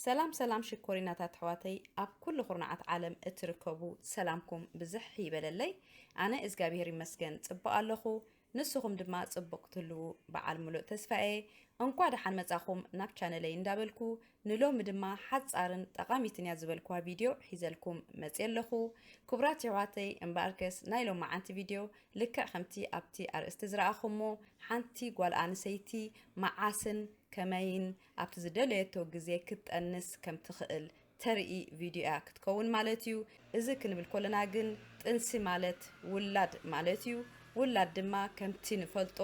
ሰላም ሰላም ሽኮሪናታት ኣሕዋተይ ኣብ ኩሉ ኩርናዓት ዓለም እትርከቡ ሰላምኩም ብዝሕ ይበለለይ ኣነ እግዚኣብሄር ይመስገን ጽቡቅ ኣለኹ ንስኹም ድማ ጽቡቅ ክትህልዉ በዓል ምሉእ ተስፋ እየ እንኳ ደሓን መጻኹም ናብ ቻነለይ እንዳበልኩ ንሎሚ ድማ ሓጻርን ጠቓሚትን እያ ዝበልክዋ ቪድዮ ሒዘልኩም መጽየ ኣለኹ። ክቡራት የሕዋተይ እምበኣርከስ ናይ ሎመዓንቲ ቪድዮ ልክዕ ከምቲ ኣብቲ ኣርእስቲ ዝረኣኹሞ ሓንቲ ጓል ኣንሰይቲ መዓስን ከመይን ኣብቲ ዝደለየቶ ግዜ ክትጠንስ ከምትኽእል ተርኢ ቪድዮ እያ ክትከውን ማለት እዩ። እዚ ክንብል ከሎና ግን ጥንሲ ማለት ውላድ ማለት እዩ፣ ውላድ ድማ ከምቲ ንፈልጦ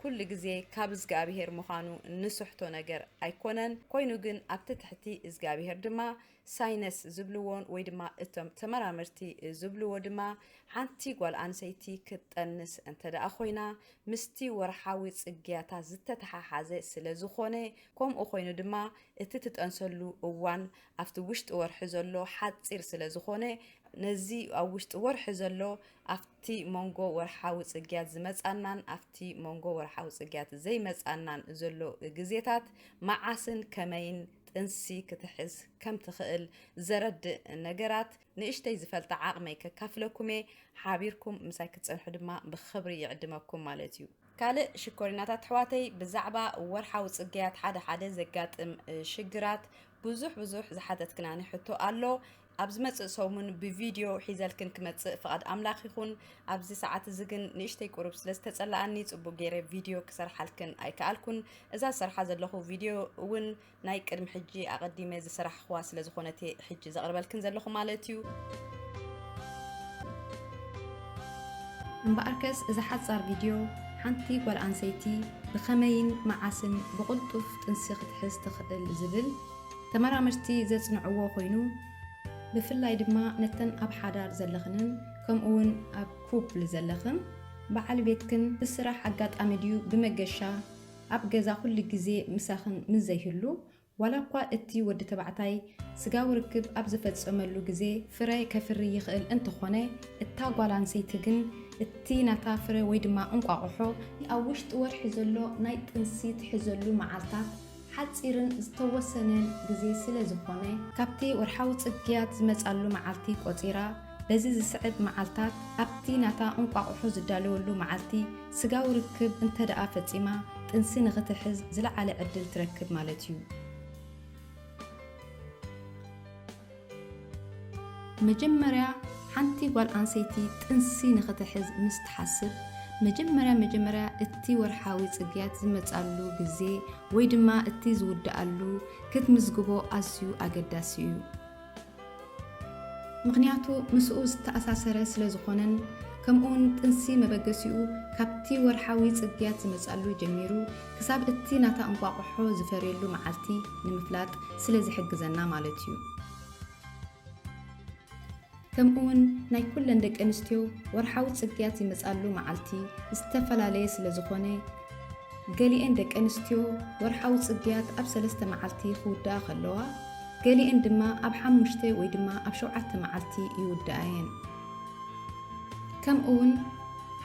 ኩሉ ግዜ ካብ እዝግኣብሄር ምዃኑ ንስሕቶ ነገር ኣይኮነን፣ ኮይኑ ግን ኣብቲ ትሕቲ እዝግኣብሄር ድማ ሳይነስ ዝብልዎን ወይ ድማ እቶም ተመራመርቲ ዝብልዎ ድማ ሓንቲ ጓል ኣንሰይቲ ክትጠንስ እንተድኣ ኮይና ምስቲ ወርሓዊ ጽግያታ ዝተተሓሓዘ ስለዝኾነ ከምኡ ኮይኑ ድማ እቲ ትጠንሰሉ እዋን ኣብቲ ውሽጢ ወርሒ ዘሎ ሓፂር ስለ ዝኾነ ነዚ ኣብ ውሽጢ ወርሒ ዘሎ ኣብቲ መንጎ ወርሓዊ ፅግያት ዝመፃናን ኣብቲ መንጎ ወርሓዊ ፅግያት ዘይመፃናን ዘሎ ግዜታት መዓስን ከመይን ጥንሲ ክትሕዝ ከም ትኽእል ዘረድእ ነገራት ንእሽተይ ዝፈልጣ ዓቕመይ ከካፍለኩም'የ፣ ሓቢርኩም ምሳይ ክትጸንሑ ድማ ብኽብሪ ይዕድመኩም ማለት'ዩ። ካልእ ሽኮሪናታት ኣሕዋተይ ብዛዕባ ወርሓዊ ጽግያት ሓደ ሓደ ዘጋጥም ሽግራት ብዙሕ ብዙሕ ዝሓተትክናኒ ሕቶ ኣሎ። ኣብ ዝመጽእ ሰሙን ብቪድዮ ሒዘልክን ክመጽእ ፍቓድ ኣምላኽ ይኹን። ኣብዚ ሰዓት እዚ ግን ንእሽተይ ቁሩብ ስለ ዝተጸላኣኒ ጽቡቕ ገይረ ቪድዮ ክሰርሓልክን ኣይከኣልኩን። እዛ ዝሰርሓ ዘለኹ ቪድዮ እውን ናይ ቅድሚ ሕጂ ኣቀዲመ ዝሰራሕክዋ ስለ ዝኮነት እየ ሕጂ ዘቅርበልክን ዘለኩ ማለት እዩ። እምበኣርከስ እዛ ሓጻር ቪድዮ ሓንቲ ጓል ኣንሰይቲ ብኸመይን መዓስን ብቕልጡፍ ጥንሲ ክትሕዝ ትኽእል ዝብል ተመራመርቲ ዘጽንዕዎ ኮይኑ ብፍላይ ድማ ነተን ኣብ ሓዳር ዘለኽንን ከምኡውን ኣብ ኩፕል ዘለኽን በዓል ቤትክን ብስራሕ ኣጋጣሚ ድዩ ብመገሻ ኣብ ገዛ ኩሉ ግዜ ምሳኽን ምስ ዘይህሉ፣ ዋላ እኳ እቲ ወዲ ተባዕታይ ስጋዊ ርክብ ኣብ ዝፈጸመሉ ግዜ ፍረ ከፍሪ ይኽእል እንተኾነ፣ እታ ጓል ኣንሰይቲ ግን እቲ ናታ ፍረ ወይ ድማ እንቋቑሖ፣ ኣብ ውሽጢ ወርሒ ዘሎ ናይ ጥንሲ ትሕዘሉ መዓልታት ሓጺርን ዝተወሰነን ግዜ ስለ ዝኾነ፣ ካብቲ ወርሓዊ ጽግያት ዝመጻሉ መዓልቲ ቆጺራ፣ በዚ ዝስዕብ መዓልታት ኣብቲ ናታ እንቋቑሖ ዝዳለወሉ መዓልቲ ስጋዊ ርክብ እንተድኣ ፈጺማ ጥንሲ ንኽትሕዝ ዝለዓለ ዕድል ትረክብ ማለት እዩ። መጀመርያ ሓንቲ ጓል ኣንሰይቲ ጥንሲ ንኽትሕዝ ምስ ትሓስብ መጀመርያ መጀመርያ እቲ ወርሓዊ ጽግያት ዝመጻሉ ግዜ ወይ ድማ እቲ ዝውድኣሉ ክትምዝግቦ ኣዝዩ ኣገዳሲ እዩ። ምኽንያቱ ምስኡ ዝተኣሳሰረ ስለ ዝኾነን ከምኡውን ጥንሲ መበገሲኡ ካብቲ ወርሓዊ ጽግያት ዝመጽኣሉ ጀሚሩ ክሳብ እቲ ናታ እንቋቑሖ ዝፈርየሉ መዓልቲ ንምፍላጥ ስለ ዝሕግዘና ማለት እዩ። ከምኡውን ናይ ኩለን ደቀንስትዮ ወርሓዊ ጽግያት ዝመጽኣሉ መዓልቲ ዝተፈላለየ ስለ ዝኾነ፣ ገሊኤን ደቂ ኣንስትዮ ወርሓዊ ጽግያት ኣብ ሰለስተ መዓልቲ ክውድኣ ከለዋ፣ ገሊኤን ድማ ኣብ ሓሙሽተ ወይ ድማ ኣብ ሸውዓተ መዓልቲ ይውድኣ እየን። ከምኡውን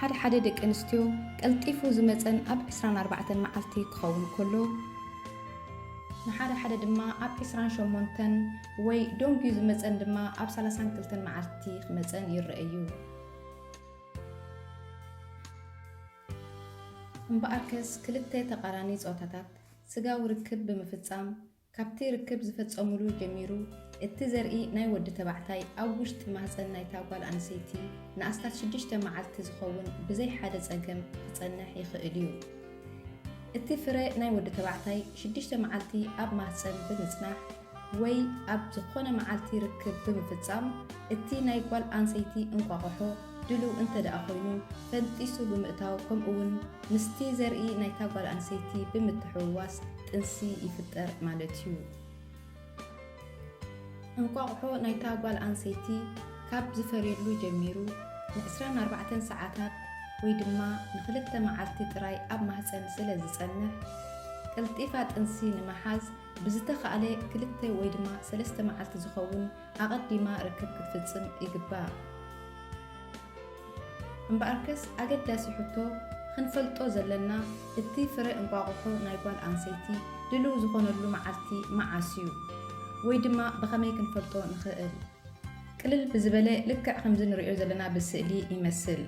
ሓደ ሓደ ደቂ ኣንስትዮ ቀልጢፉ ዝመጸን ኣብ ዕስራን ኣርባዕተን መዓልቲ ክኸውን ከሎ፣ ንሓደ ሓደ ድማ ኣብ ዕስራን ሸሞንተን ወይ ደንጉዩ ዝመጸን ድማ ኣብ ሰላሳን ክልተን መዓልቲ ክመጸን ይረኣ እዩ። እምበኣርከስ ክልተ ተቓራኒ ጾታታት ስጋዊ ርክብ ብምፍጻም ካብቲ ርክብ ዝፈጸሙሉ ጀሚሩ እቲ ዘርኢ ናይ ወዲ ተባዕታይ ኣብ ውሽጢ ማህጸን ናይታ ጓል ኣንሰይቲ ንኣስታት ሽዱሽተ መዓልቲ ዝኸውን ብዘይ ሓደ ጸገም ክጸንሕ ይኽእል እዩ። እቲ ፍረ ናይ ወዲ ተባዕታይ ሽዱሽተ መዓልቲ ኣብ ማህጸን ብምጽናሕ፣ ወይ ኣብ ዝኾነ መዓልቲ ርክብ ብምፍጻም እቲ ናይ ጓል ኣንሰይቲ እንቋቑሖ ድሉው እንተድኣ ኮይኑ ፈንጢሱ ብምእታው ከምኡ'ውን ምስቲ ዘርኢ ናይታ ጓል ኣንሰይቲ ብምትሕውዋስ ጥንሲ ይፍጠር ማለት እዩ። እንቋቑሖ ናይታ ጓል ኣንሰይቲ ካብ ዝፈርየሉ ጀሚሩ ንዕስራን ኣርባዕተን ሰዓታት ወይ ድማ ንኽልተ መዓልቲ ጥራይ ኣብ ማህጸን ስለ ዝጸንሕ፣ ቀልጢፋ ጥንሲ ንምሓዝ ብዝተኻእለ ክልተ ወይ ድማ ሰለስተ መዓልቲ ዝኸውን ኣቐዲማ ርክብ ክትፍጽም ይግባእ። እምበኣርከስ ኣገዳሲ ሕቶ ኽንፈልጦ ዘለና እቲ ፍረ እንቋቑሖ ናይ ጓል ኣንሰይቲ ድሉው ዝኾነሉ መዓልቲ መዓስ እዩ? ወይ ድማ ብኸመይ ክንፈልጦ ንኽእል? ቅልል ብዝበለ ልክዕ ከምዚ ንርእዮ ዘለና ብስእሊ ይመስል።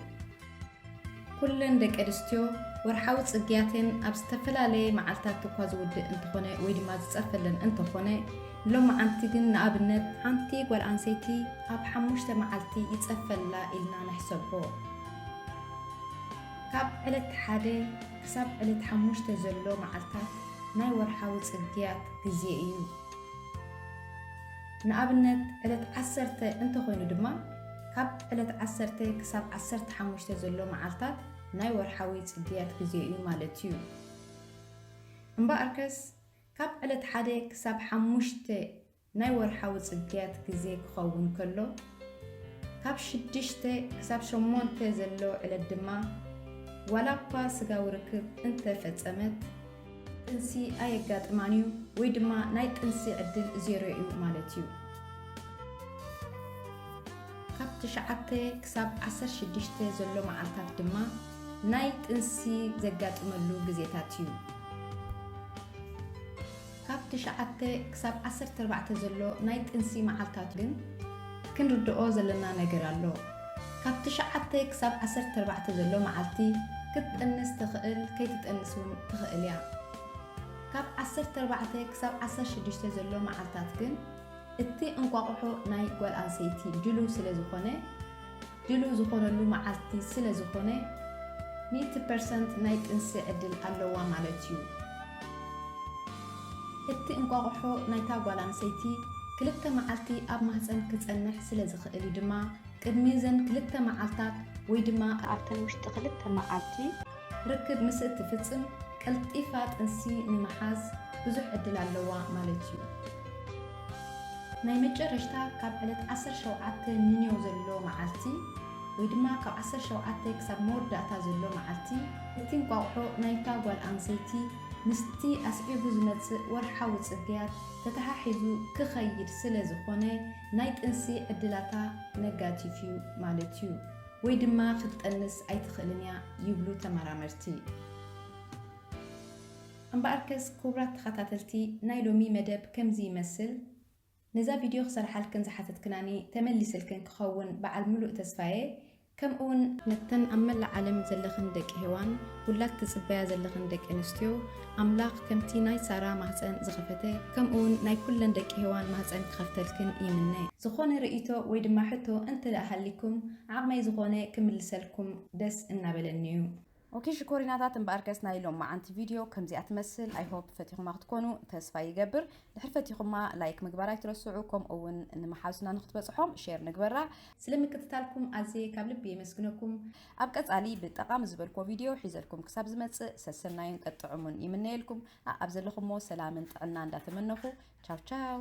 ኩለን ደቀንስትዮ ወርሓዊ ጽግያተን ኣብ ዝተፈላለየ መዓልታት እኳ ዝውድእ እንተኾነ ወይ ድማ ዝጸርፈለን እንተኾነ ሎመዓንቲ ግን ንኣብነት ሓንቲ ጓል ኣንሰይቲ ኣብ ሓሙሽተ መዓልቲ ይጸርፈላ ኢልና ንሕሰቦ። ካብ ዕለት ሓደ ክሳብ ዕለት ሓሙሽተ ዘሎ መዓልታት ናይ ወርሓዊ ጽግያት ግዜ እዩ። ንኣብነት ዕለት ዓሰርተ እንተኾይኑ ድማ ካብ ዕለት ዓሰርተ ክሳብ ዓሰርተ ሓሙሽተ ዘሎ መዓልታት ናይ ወርሓዊ ጽግያት ግዜ እዩ ማለት እዩ። እምበኣርከስ ካብ ዕለት ሓደ ክሳብ ሓሙሽተ ናይ ወርሓዊ ጽግያት ግዜ ክኸውን ከሎ፣ ካብ ሽዱሽተ ክሳብ ሸሞንተ ዘሎ ዕለት ድማ ዋላኳ ስጋዊ ርክብ እንተ ፈጸመት ጥንሲ ኣየጋጥማን እዩ ወይ ድማ ናይ ጥንሲ ዕድል ዜሮ እዩ ማለት እዩ። ካብ ትሽዓተ ክሳብ ዓሰርተ ሽዱሽተ ዘሎ መዓልታት ድማ ናይ ጥንሲ ዘጋጥመሉ ግዜታት እዩ። ካብ ትሽዓተ ክሳብ ዓሰርተ ኣርባዕተ ዘሎ ናይ ጥንሲ መዓልታት ግን ክንርድኦ ዘለና ነገር ኣሎ። ካብ ትሽዓተ ክሳብ ዓሰርተ ኣርባዕተ ዘሎ መዓልቲ ክትጥንስ ትኽእል ከይትጠንስ ውን ትኽእል እያ። ካብ ዓሰርተ ኣርባዕተ ክሳብ ዓሰርተ ሽዱሽተ ዘሎ መዓልታት ግን እቲ እንቋቑሖ ናይ ጓል ኣንሰይቲ ድሉው ስለዝኾነ፣ ድሉው ዝኾነሉ መዓልቲ ስለ ዝኾነ ሚእቲ ፐርሰንት ናይ ጥንሲ ዕድል ኣለዋ ማለት እዩ። እቲ እንቋቑሖ ናይታ ጓል ኣንሰይቲ ክልተ መዓልቲ ኣብ ማህጸን ክጸንሕ ስለ ዝኽእል እዩ ድማ ቅድሚ እዘን ክልተ መዓልታት ወይ ድማ ኣብተን ውሽጢ ክልተ መዓልቲ ርክብ ምስ እትፍጽም ቀልጢፋ ጥንሲ ንምሓዝ ብዙሕ ዕድል ኣለዋ ማለት እዩ። ናይ መጨረሽታ ካብ ዕለት ዓሰርተ ሸውዓተ ንንዮው ዘሎ መዓልቲ ወይ ድማ ካብ ዓሰርተ ሸውዓተ ክሳብ መወዳእታ ዘሎ መዓልቲ እቲ እንቋቑሖ ናይታ ጓል ኣንሰይቲ ምስቲ ኣስዒቡ ዝመጽእ ወርሓዊ ጽግያት ተተሓሒዙ ክኸይድ ስለ ዝኾነ ናይ ጥንሲ ዕድላታ ነጋቲፍ እዩ ማለት እዩ። ወይ ድማ ክትጠንስ ኣይትኽእልን እያ ይብሉ ተመራመርቲ። እምበኣርከስ ኩቡራት ተኸታተልቲ ናይ ሎሚ መደብ ከምዚ ይመስል፣ ነዛ ቪድዮ ክሰርሓልክን ዝሓተትክናኒ ተመሊስልክን ክኸውን በዓል ምሉእ ተስፋየ፣ ከምእውን፣ ነተን ኣብ መላእ ዓለም ዘለኽን ደቂ ሄዋን ውላድ ትጽበያ ዘለኽን ደቂ ኣንስትዮ፣ ኣምላኽ ከምቲ ናይ ሳራ ማህጸን ዝኸፈተ ከምኡ ውን ናይ ኩለን ደቂ ሄዋን ማህጸን ክኸፍተልክን ይምነ። ዝኾነ ርእይቶ ወይ ድማ ሕቶ እንተ ደኣ ሃሊኩም ዓቅመይ ዝኾነ ክምልሰልኩም ደስ እናበለኒ እዩ። ኦኬ ሽኮሪናታት እምበኣርከስ ናይ ሎማዓንቲ ቪድዮ ከምዚኣ ትመስል ኣይ ሆፕ ፈቲኹማ ክትኮኑ ተስፋ ይገብር ድሕሪ ፈቲኹማ ላይክ ምግባር ኣይትረስዑ ከምኡ ውን ንመሓዙትና ንክትበጽሖም ሼር ንግበራ። ስለ ምክትታልኩም ኣዝየ ካብ ልቢ የመስግነኩም። ኣብ ቀጻሊ ብጠቓሚ ዝበልክዎ ቪድዮ ሒዘልኩም ክሳብ ዝመጽእ ሰሰናዩን ጠጥዑሙን ይምነየልኩም። ኣኣብ ዘለኹሞ ሰላምን ጥዕና እንዳተመነኹ ቻው ቻው።